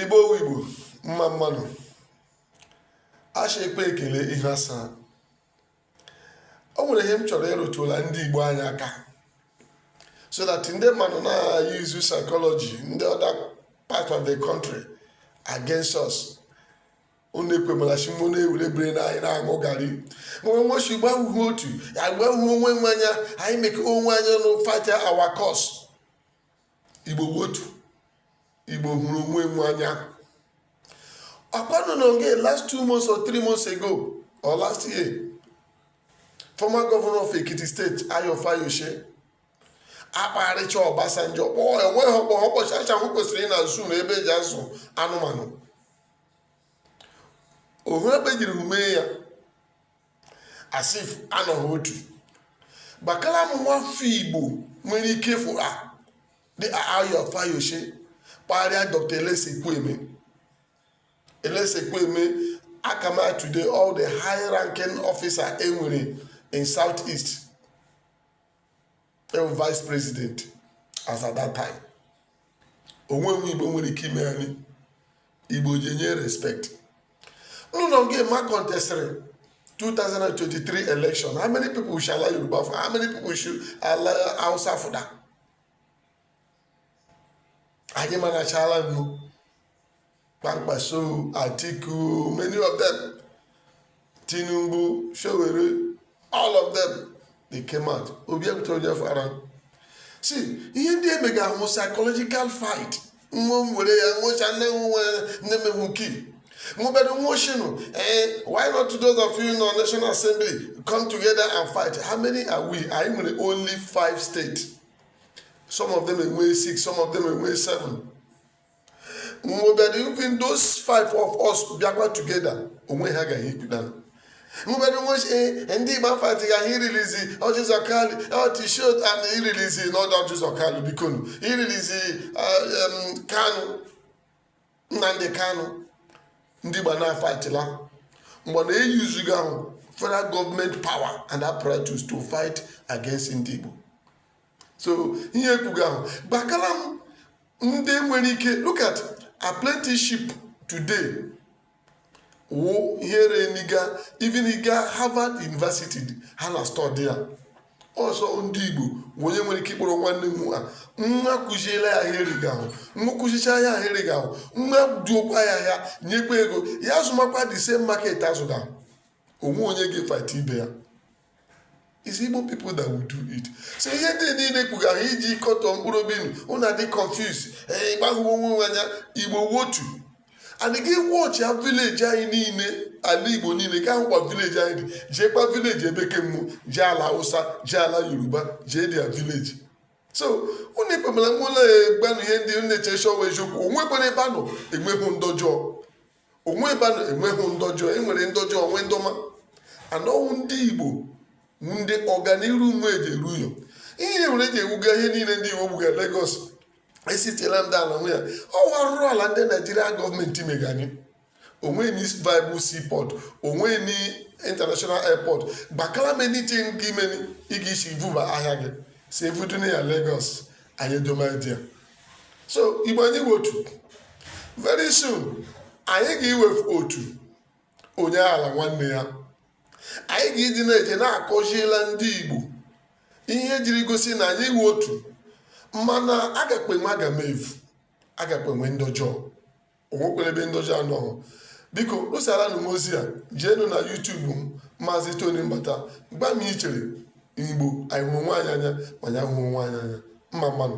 igbo wụ igbo mma mma nụ a shị e kpee ekele ihu asaa o nwere ihe m chọrọ ịrụtụla ndị igbo anyị aka so that ndị mmadụ na-use psychology ndị other part of the country against us unu ekwemala shị mụ na-ewere bere na anyị na-aṅụ garị nwe nwo shị igbo awụghị otu igbo ahụghị onwe nwe anya anyị mekọọ onwe anyị ọnụ fight our cause igbo wụ otu igbo hụrụ onwe nwe anya ọkwanụ n'oge last two months or three months ago or last year former governor of ekiti state ayo fayose akparịcha ọbasanjọ kpọọ enweghị ọkpọ ha ụbọchị acha hụ kwesịrị na zoo n'ebe e ji azụ anụmanụ ohu ebe jiri mee ya as if anọghị otu gwakala m nwafọ igbo nwere ike ịfụ ha dị ayo fayose kparịa dr alex ekwueme alex ekwueme aka m today all the high ranking officer e nwere in south east ọ wụ vice president as at that time o nwe nwa igbo nwere ike ime anyị igbo ji enye respect nnụnọ nke ma contestịrị 2023 election how many people shi ala yoruba fụọ how many people shi ala hausa fụta anyị manachala nụ Kwankwaso, Atiku, many of them, Tinubu, Sowore, all of them, they came out. Obi bụ otu onye fara. See, ihe ndị a emega wụ psychological fight. Nwa m were ya, nwocha nne m nwe nne m ewu kii. mobere nwa oshinu eh, why not those of you in our national assembly come together and fight how many are we anyị nwere only five states some of them enwee six some of them enwee seven nwebere even those five of us bịakwa together o nwe ihe a gaghị ekwuta nwebere nwe eh, ndị igbo afightịga ịrelease orji uzor kalu ọtishot and ịrelease not orji uzor kalu bikonu ịrelease eh, kanu nnamdi kanu ndị igbo na-fightịla mgbe a na-usega ahụ federal government power and apparatus to fight against ndị igbo so ihe ekwuga ahụ gwakala m ndị nwere ike look at apprenticeship today wụ ihe reignịga even ị ga Harvard University ha na-study ya ọ sọ ndị igbo wụ onye nwere ike ịkpọrọ nwanne m a nwa kụziela ya ihe o rega ahụ nwa kụzicha ya ihe o rega ahụ nwa duokwa ya ahịa nyekwa ego ya azụmakwa the same market azụga o nwe onye ga-efight ibe ya It's Igbo people that will do it. So ihe ndị niile kwuga ha iji kọtọ mkpụrụ obi unu unu adị confuse ee ịgbahụwo onwe nwe anya Igbo wụ otu and gị watchia village anyị niile ala Igbo niile gaa hụkwa village anyị jeekwa village ebe kemụ jee ala Hausa jee ala Yoruba jee their village so unu ekpemala nwa ụlọ egbanụ ihe ndị na-eche shọwa eziokwu onwekwara ebe a nọ enweghị ndị ọjọọ onwe ebe a nọ enweghị ndị ọjọọ enwere ndị ọjọọ nwee ndị ọma and ọ wụ ndị igbo ndị ọganiru nwe eji eru ụyọ ihe nwere eji ewuga ihe niile ndị igbo wuga Lagos esitela ndị ala nwe ya ọ wụ arụrụ ala ndị Nigeria government mega anyị onwe ni viable seaport onwe ni international airport gbakala many things nke imeni ị ga-isi vuba ahịa gị si evuduna ya Lagos anyị edomadia so igbo anyị wụ otu very soon anyị ga-iwefu otu onye aghala nwanne ya anyị ga-ịdị na-eje na-akụzila ndị igbo ihe jiri gosi na anyị wụ otu mana agakpe enwe agamevu agakpe enwe ndị ọjọọ onwekwere ebe ndị ọjọọ anọghị biko vusara nụ m ozi a jeenu na YouTube m maazị tony mbata gba m ichere igbo anyị hụrụ onwe anyị anya ma anyị hụrụ onwe anyị anya mma mma nụ